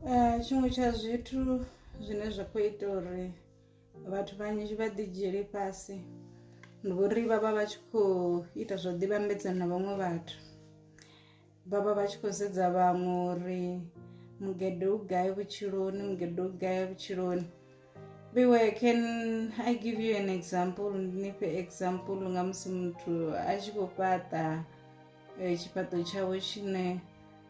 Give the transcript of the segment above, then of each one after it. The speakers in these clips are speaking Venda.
Eh, tshiṅwe tsha zwithu zwine zwa khou ita uri vhathu vhanzhi vha ḓi dzhiele fhasi ndi uri vha vha vha tshi khou ita zwa ḓivhambedza na vhaṅwe vhathu vha vha vha tshi khou sedza vhaṅwe uri mugede u gai vhutshiloni mugede u gai vhutshiloni vhewe can i give you an example ndi ni fhe example nga musi muthu a tshi khou fhaṱa eh, tshifhaṱo tshawe tshine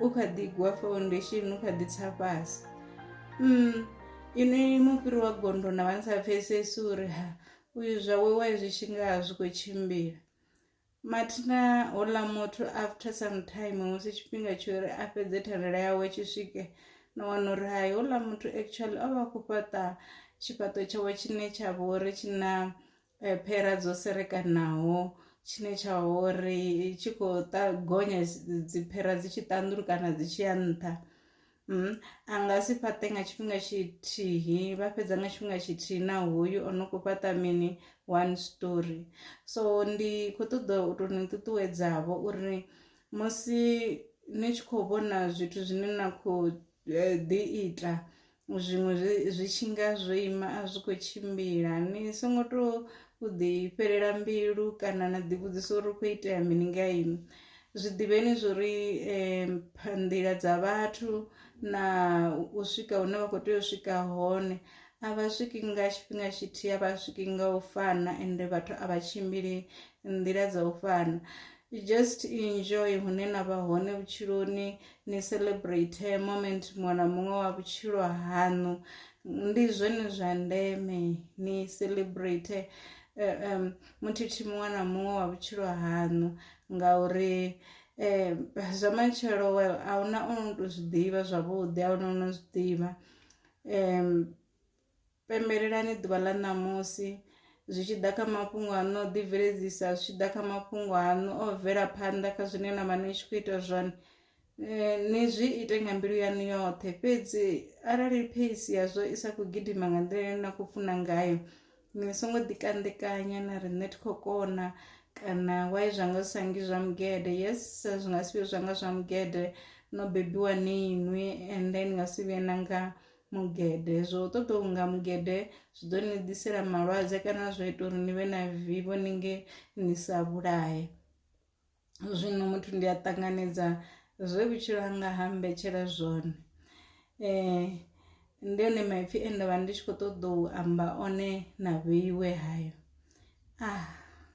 u kha ḓi gwa foundation u kha ḓi tsa fhasi mm ini mufhiri wa gondo na vha sa pfesesi uri ha uyu zwa we wa zwi tshi nga zwi kho tshimbila mathina hola muthu after some time musi tshifhinga tsho ri a fhedze thandela yawe tshi swike na wana uri hai hola muthu actually o vha khou fhaṱa tshifhaṱo tshawe tshine tsha vha uri tshi na eh, phera dzo serekanaho tshine tsha uri tshi khou gonya dziphera dzi tshi ṱanḓulu kana dzi tshi ya nṱha mm, a nga si fhaṱe nga tshifhinga tshithihi vha fhedza nga tshifhinga tshithihi na hoyu o no khou fhaṱa mini one story so ndi khou ṱoḓa u tou ni ṱuṱuwedzavho uri musi ni tshi khou vhona zwithu zwine na khou eh, ḓi ita zwiṅwe zwi tshi nga zwo ima a zwi khou tshimbila ni songo to u ḓi fhelela mbilu kana na ḓi vhudzisa uri khou itea mini nga ini zwi ḓivheni zwori um nḓila dza vhathu na u swika hune vha kho tea u swika hone a vha swiki nga tshifhinga tshithihi a vha swiki nga u fana ende vhathu a vha tshimbili nḓila dza u fana. I just enjoy hune na vha hone vhutshiloni ni celebrate moment muṅwe na muṅwe wa vhutshilo haṋu ndi zwone zwa ndeme ni celebrate eh, um, muthithi muṅwe na muṅwe wa vhutshilo haṋu ngauri um zwa matshelo well a huna ono to zwi ḓivha zwavhuḓi a huna ono zwi ḓivha um pembelelani ḓuvha ḽa ṋamusi zwi tshi ḓa kha mafhungo aṋu o ḓibveledzisa zwi tshi ḓa kha mafhungo aṋu o bvela phanḓa kha zwine na vha ni tshi khou ita zwone eh, ni zwi ite nga mbilu yaṋu yoṱhe fhedzi arali pheisi yazwo i sa khou gidima nga nḓila ine na khou funa ngayo ni songo ḓikanḓekanya na ri nṋe thi khou kona kana wai zwa nga zwi sa ngi zwa mugede yes zwi nga si vhe zwa nga zwa mugede no bebiwa ni inwi and then nga si vhuye na nga mugede zwo ṱoḓa u nga mugede zwi ḓo ni ḓisela malwadze kana zwa ita uri ni vhe na vivho ni nge ni sa vhulaye zwino muthu ndi a ṱanganedza zwe vhutshilo hanga ha mbetshela zwone um ndi one maipfi e ndavha ndi tshi kho ṱoḓa u amba one na vheiwe hayo ah.